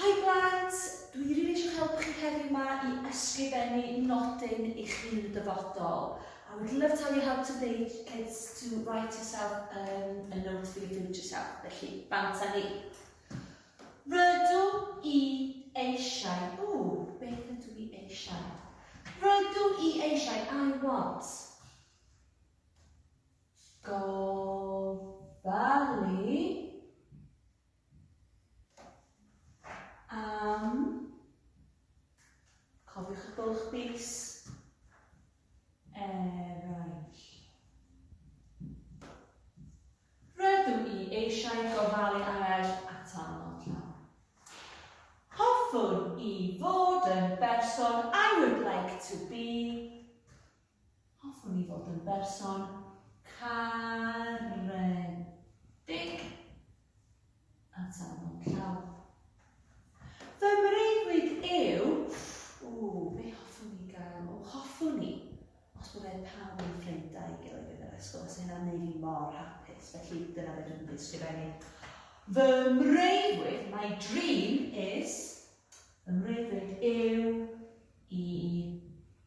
Hi Blant! Dw i rili eisiau helpu chi heddiw 'ma i ysgrifennu nodyn i chi yn y dyfodol. I would love to have your help today kids to write yourself um, a note for your future self. Felly, bant â ni. Rydw i eisiau, o, beth ydw i eisiau? Rydw i eisiau, I want. Gofalu Am. Cofiwch y bwlch bys. Eraill. Rydw i eisiau gofalu ar eraill atal mor llawn. Hoffwn i fod yn berson I would like to be Hoffwn i fod yn berson caredig. Atal mewn llaw. Fy mreuddwyd yw, ww, be hoffwn i gael? O, hoffwn i, os byddai pawb yn ffrinda i gilydd yn yr ysgol, os hynna'n neud i mor hapus, felly dyna beth dwi'n ysgrifennu. Fy mreuddwyd, my dream is, fy mreuddwyd yw i